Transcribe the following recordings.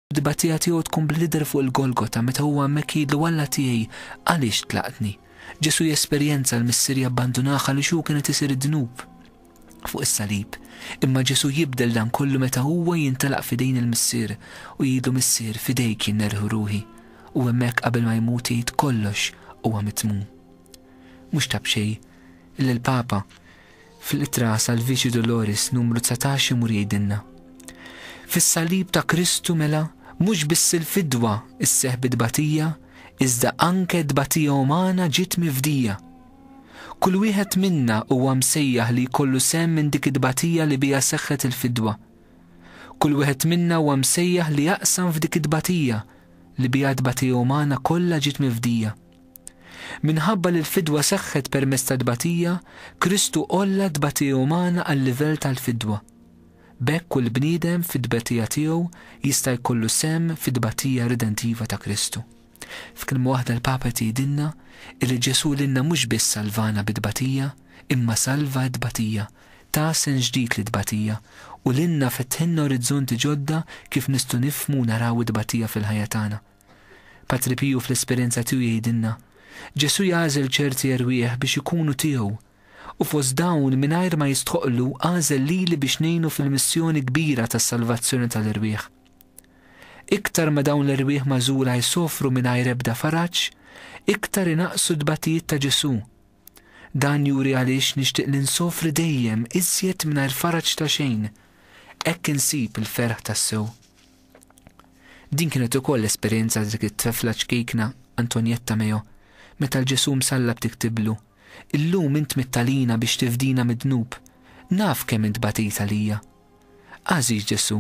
Tbatija tiegħu tkun bl-idher fuq il-Golgota meta huwa hemmhekk jgħidlu Alla tiegħi għaliex tlaqtni? Ġesù jesperjenza l-Missier jabbandunah għaliex hu kien qed isir id-dnub fuq is-salib. Imma Ġesù jibdel dan kollu meta huwa jintelaq f'idejn il-Missier u jgħidlu Missier f'idejk jien nerħu ruħi. U hemmhekk qabel ma jmut jgħid kollox huwa mitmum. Mhux ta' b'xejn li l-Papa, Fl-Ittra Salvici Doloris numru dsatax imur jgħidilna, Fis-Salib ta' Kristu mela mhux biss il-fidwa sseħħ bi tbatija iżda anke tbatija umana ġiet mifdija. Kull wieħed minna huwa msejjaħ li jkollu sehem minn dik it-tbatija li biha seħħet il-fidwa. Kull wieħed minna huwa msejjaħ li jaqsam f'dik it-tbatija li biha t-tbatija umana kollha ġiet mifdija. Minħabba li l-fidwa seħħet permezz tat-tbatija, Kristu għolla t-tbatija umana għal-livell tal-fidwa. B'hekk kull bniedem fit-tbatija tiegħu jista' jkollu sehem fit-tbatija ridentiva ta' Kristu. F'kelma waħda l-Papa qed jgħidilna illi Ġesù lilna mhux biss salvana bit-tbatija, imma salva t-tbatija, ta sens ġdid lit-tbatija, u lilna fetħilna orizzonti ġodda kif nistgħu nifhmu u naraw it-tbatija fil-ħajja tagħna. Patri Piju fl-esperjenza tiegħu jgħidilna, Ġesù jagħżel ċerti erwieħ biex ikunu tiegħu, u fost dawn mingħajr ma jistħoqqlu għażel lili biex ngħinu fil-missjoni kbira tas-salvazzjoni tal-erwieħ. Iktar ma dawn l-erwieħ magħżula jsofru mingħajr ebda faraġ, iktar inaqqsu t-tbatijiet ta' Ġesù. Dan juri għaliex nixtieq li nsofri dejjem iżjed mingħajr faraġ ta' xejn. Hekk insib il-ferħ tassew. Din kienet ukoll l-esperjenza ta' dik it-trefla ċkejkna, Antonietta Meo, meta l-Ġesù msallab tiktiblu, Illum int mitt għalina biex tifdina mid-dnub. Naf kemm int batejt għalija. Għażiż Ġesù,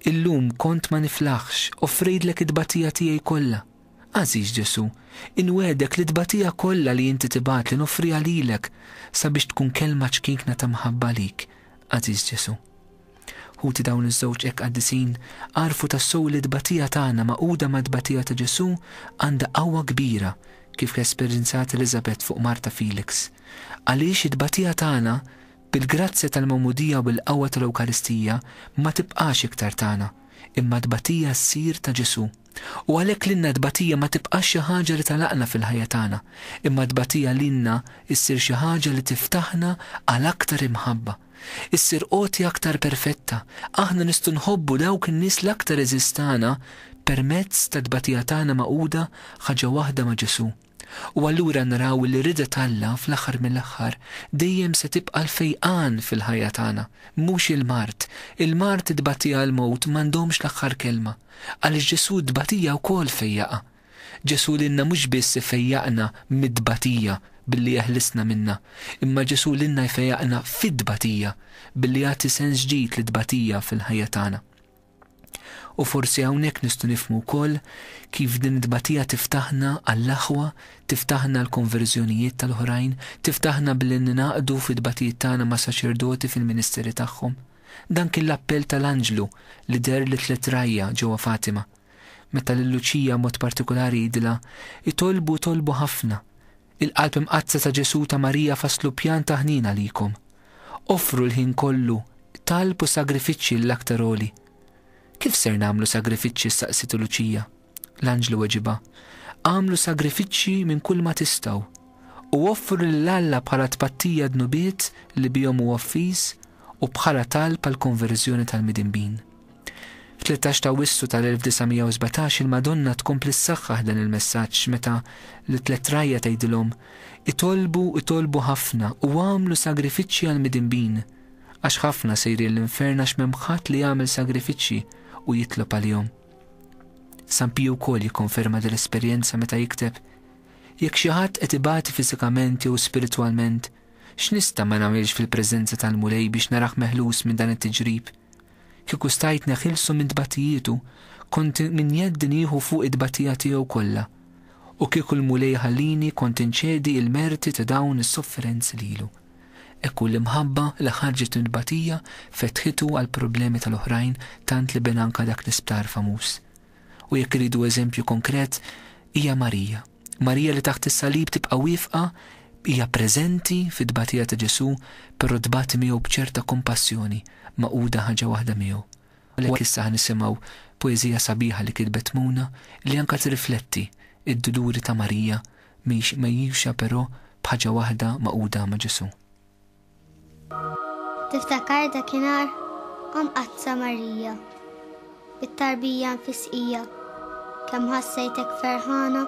illum kont ma niflaħx, offrejtlek it-tbatija tiegħi kollha. Għażiż Ġesù, inwegħdek li t-tbatija kollha li inti tibgħatli noffriha lilek sabiex tkun kelma ċkejkna ta' mħabba għalik, għażiż Ġesù. Ħuti dawn iż-żewġ hekk qaddisin għarfu tassew li t-tbatija tagħna magħquda mat-tbatija ta' Ġesù għandha qawwa kbira kif esperjenzat Eliżabet fuq martha Felix. Għaliex it-tbatija tagħna bil-grazzja tal-Magħmudija u bil-qawwa tal-Ewkaristija ma tibqax iktar tagħna, imma t-tbatija ssir ta' Ġesù. U għalhekk lilna t-tbatija ma tibqax xi ħaġa li tagħlaqna fil-ħajja tagħna, imma t-tbatija lilna ssir xi ħaġa li tiftaħna għal aktar imħabba. issir għotja aktar perfetta. Aħna nistgħu nħobbu dawk in-nies l-aktar għeżież tagħna permezz tat-tbatija tagħna magħquda ħaġa waħda ma' Ġesù. U allura naraw li r-rieda t'Alla fl-aħħar mill-aħħar dejjem se tibqa' l-fejqan fil-ħajja tagħna, mhux il-mard. Il-mard, it-tbatija, il-mewt m'għandhomx l-aħħar kelma, għaliex Ġesù t-tbatija wkoll fejjaqha. Ġesù lilna mhux biss ifejjaqna mit-tbatija billi jeħlisna minnha, imma Ġesù lilna jfejjaqna fit-tbatija billi jagħti sens ġdid lit-tbatija fil-ħajja tagħna. U forsi hawnhekk nistgħu nifhmu wkoll kif din it-tbatija tiftaħna għall-aħwa, tiftaħna għall-konverżjonijiet tal-oħrajn, tiftaħna billi ningħaqdu fit-tbatijiet tagħna ma' saċerdoti fil-ministeri tagħhom. Dan kien l-appell tal-anġlu li deher lit-tliet rgħajja ġewwa Fatima. Meta lil Luċija mod partikulari jidhilha, Itolbu, tolbu ħafna. Il-Qalb Imqaddsa ta' Ġesù u ta' Marija fasslu pjan ta' ħniena għalikom. Offru l-ħin kollu, talb u sagrifiċċji lill-Aktar Għoli. Kif ser nagħmlu sagrifiċċji staqsitu Luċija. L-anġlu weġibha, Agħmlu sagrifiċċji minn kulma tistgħu. U offru lil Alla bħala tpattija d-dnubiet li bihom hu offiż u bħala talb għall-konverżjoni tal-midinbin. Fit-tlettax t'Awwissu tal-1917 il-Madonna tkompli ssaħħaħ dan il-messaġġ meta lit-tliet rgħajja tgħidilhom, Itolbu, itolbu ħafna u agħmlu sagrifiċċji għall-midinbin, għax ħafna sejrin l-infern għax m'hemm ħadd li jagħmel sagrifiċċji u jitlob għalihom. San Piju wkoll jikkonferma din l-esperjenza meta jikteb, Jekk xi ħadd qed ibati fiżikament jew spiritwalment, x'nista' ma nagħmilx fil-preżenza tal-Mulej biex narah meħlus minn dan it-tiġrib? Kieku stajt neħilsu minn tbatijietu, kont minn jedd nieħu fuqi t-tbatija tiegħu kollha, u kieku l-Mulej iħallini kont inċedi il-merti ta' dawn is-sofferenzi lilu. Hekk hu l-imħabba li ħarġet minn tbatija fetħitu għall-problemi tal-oħrajn tant li bena anke dak l-isptar famuż. U jekk irridu eżempju konkret, hija Marija. Marija li taħt is-salib tibqa' wieqfa hija preżenti fit-tbatija ta' Ġesù però tbati miegħu b'ċerta kompassjoni magħquda ħaġa waħda miegħu. Għalhekk issa ħa nisimgħu poeżija sabiħa li kitbet Muna li anke tirrifletti d-duluri ta' Marija mhix mgħejjuxa però b'ħaġa waħda magħquda ma' Ġesù. Tiftakar dakinhar o Mqaddsa Marija, bit-tarbija mfisqija, kemm ħassejtek ferħana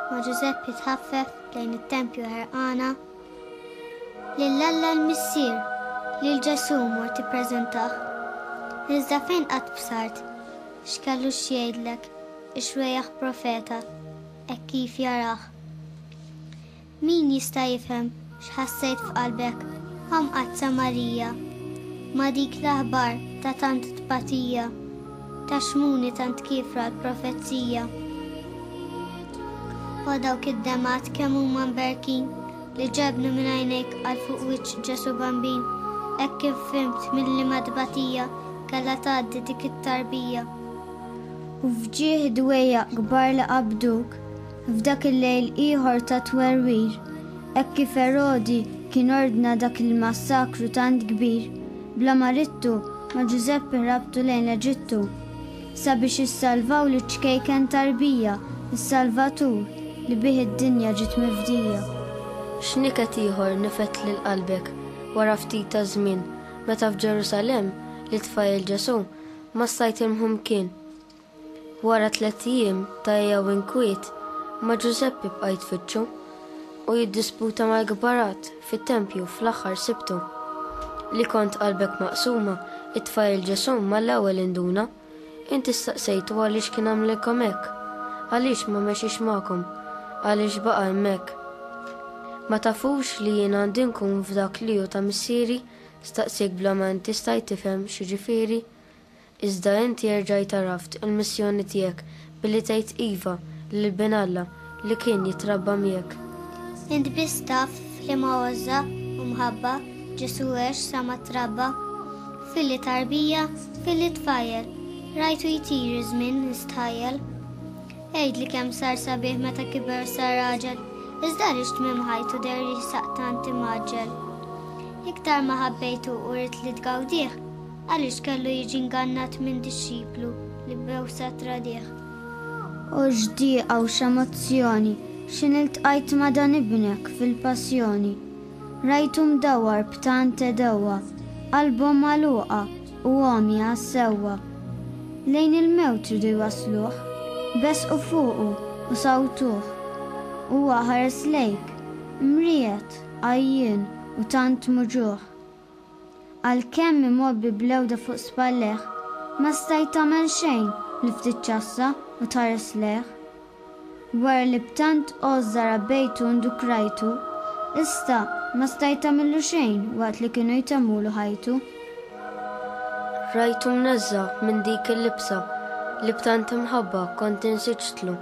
ma' Ġużepp jitħaffef lejn it-tempju ħerqana? Lil Alla l-Missier, lil Ġesù mort tippreżentah. Iżda fejn qatt bsart, x'kellu x'jgħidlek, ix-xwejjaħ profeta, hekk kif jarah. Min jista' jifhem x'ħassejt f'qalbek, a Mqaddsa Marija, ma' dik l-aħbar ta' tant tbatija, ta' xmuni tant kiefra l-profezija? O dawk id-demgħat kemm huma mberkin li ġebnu minn għajnejk għal fuq wiċċ Ġesù Bambin, hekk kif fhimt minn liema tbatija kellha tgħaddi dik it-tarbija. U f'ġieħ dwejjaq kbar li qabduk, F'dak il-lejl ieħor ta' twerwir, hekk kif Erodi kien ordna dak il-massakru tant kbir, bla marittu ma' Ġużeppi ħrabtu lejn l-Eġittu, sabiex issalvaw liċ-ċkejken tarbija, is-Salvatur li bih id-dinja ġiet mifdija. X'niket ieħor nifed lil qalbek wara ftit ta' żmien meta f'Ġerusalemm lit-tfajjel Ġesù massajt imħu mkien? Wara tliet ijiem ta' għija u inkwiet, ma' Ġużeppi bqa' jitfittxu, u jiddisputa mal-kbarat fit-tempju fl-aħħar Sibtu. Li kont qalbek maqsuma, it-tfajjel Ġesù mal-ewwel induna. Inti staqsejtu għaliex kien għamlilkom hekk? Għaliex ma mexiex magħkom? Għaliex baqa' hemmhekk? Ma tafux li jien għandi nkun f'dak li hu ta' Missieri? staqsiek bla ma inti stajt tifhem x'jiġifieri. Iżda inti erġajt għaraft il-missjoni tiegħek billi tgħid iva lil Bin Alla li kien jitrabba miegħek. Int biss taf f'liema għożża u mħabba Ġesù għex sa ma trabba. Filli tarbija, filli tfajjel, rajtu jtir iż-żmien nistħajjel. Għidli kemm sar sabiħ meta kiber sar raġel, iżda għaliex tmiem ħajtu deher jisaq tant imgħaġġel. Iktar ma ħabbejtu u ridt li tgawdih, Għaliex kellu jiġi ngannat minn dixxiplu li b'għewsa tradih? O x'dieqa u x'emozzjoni xi niltqajt ma' dan Ibnek fil-Passjoni! Rajtu mdawwar b'tant għedewwa, qalbhom magħluqa u għomja għas-sewwa. Lejn il-mewt ridu jwassluh, besqu fuqu u sawtuh. Huwa ħares lejk, mriegħed, għajjien u tant muġugħ. Għalkemm imgħobbi bl-għewda fuq spallejh, ma stajt tagħmel xejn li ftit ċassa u tħares lejh. Wara li b'tant għożża rabbejtu u ndukrajtu, issa ma stajt tagħmillu xejn waqt li kienu jtemmulu ħajtu. Rajtu mneżża' minn dik il-libsa li b'tant imħabba kont insiġtlu,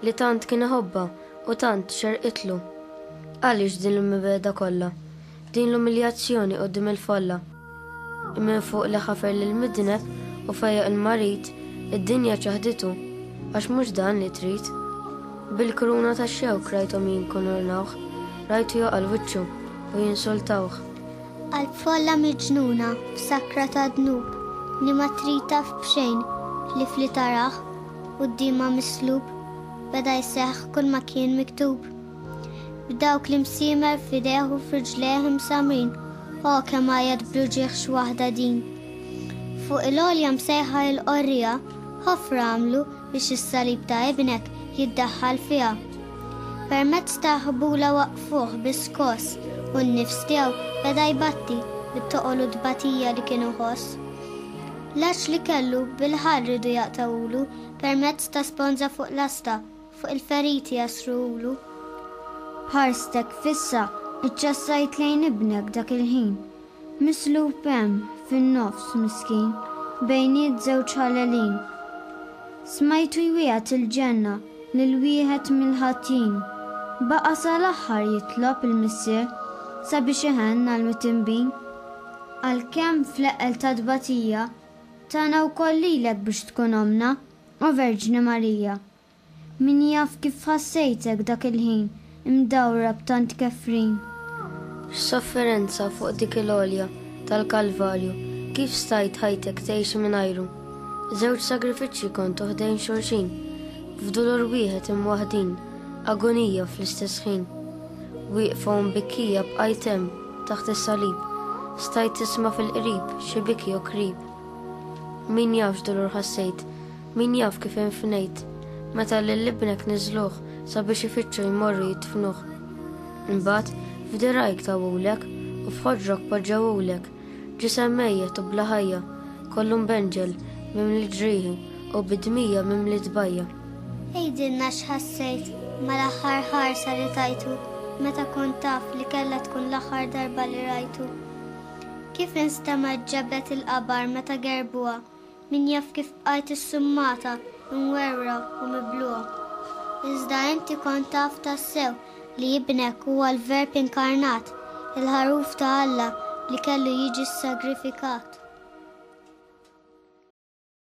li tant kien iħobbha u tant xerqitlu. Għaliex din il-mibegħda kollha? F'din l-umiljazzjoni quddiem il-folla, minn fuq li ħafer lill-midneb u fejjaq il-marid, id-dinja ċaħditu, għax mhux dan li trid. Bil-kruna tax-xewk rajthom jinkunurnawh, rajtu joqal wiċċu u jinsultawh. Qalb folla miġnuna f'sakra ta' dnub li ma trid taf b'xejn ħlief li tarah quddiemha mislub, beda jseħħ kull ma kien miktub. B'dawk l-imsiemer f'idejh u f'riġlejh imsammrin, o kemm għajjat bl-uġigħ xi waħda din! Fuq il-għolja msejħa il-qorrija, ħofra għamlu biex is-salib ta' Ibnek jiddaħħal fiha. Permezz ta' ħbula waqqfuh bi skoss u n-nifs tiegħu beda jbatti bit-toqol u t-tbatija li kien iħoss. L-għaġġ li kellu bil-ħarr ridu jaqtgħulu permezz ta' sponża fuq lasta Fuq il-feriti jasrulu. B'ħarstek fissa iċċassajt lejn ibnek dak il-ħin, mislub hemm fin-nofs miskin bejniet żewġ ħalelin. Smajtu jwiegħed il-ġenna lil wieħed mill-ħatjin, baqa' sal-aħħar jitlob il-Missier sabiex iħenn għall-mitinbin. Għalkemm fl-eqqel tat-tbatija tana wkoll lilek biex tkun ommna, O Verġni Marija, min jaf kif ħassejtek dak il-ħin imdawra b'tant kefrin. F'sofferenza fuq dik il-għolja tal-Kalvarju, kif stajt ħajtek tgħix mingħajru? Żewġ sagrifiċċji kontu ħdejn xulxin, f'dulur wieħed imwaħdin, agonija fl-istess ħin. Wieqfa u mbikkija bqajt hemm taħt is-salib, stajt tisma' fil-qrib xi biki u krib. Min jaf x'dulur ħassejt, min jaf kif infnejt, meta lil ibnek niżżluh sabiex ifittxu jmorru jidfnuh. Imbagħad f'dirgħajk tawulek u f'ħoġrok poġġewulek, ġisem mejjet u bla ħajja, kollu mbenġel, mimli ġrieħi u bi dmija mimli tbajja. Għidilna x'ħassejt mal-aħħar ħarsa li tajtu meta kont taf li kellha tkun l-aħħar darba li rajtu. Kif instemgħet ġabet il-qabar meta gerbuha, min jaf kif bqajt issummata, imwerwra u mibluha. Iżda inti kont taf tassew li Ibnek huwa l-Verb inkarnat, il-Ħaruf ta' Alla li kellu jiġi ssagrifikat.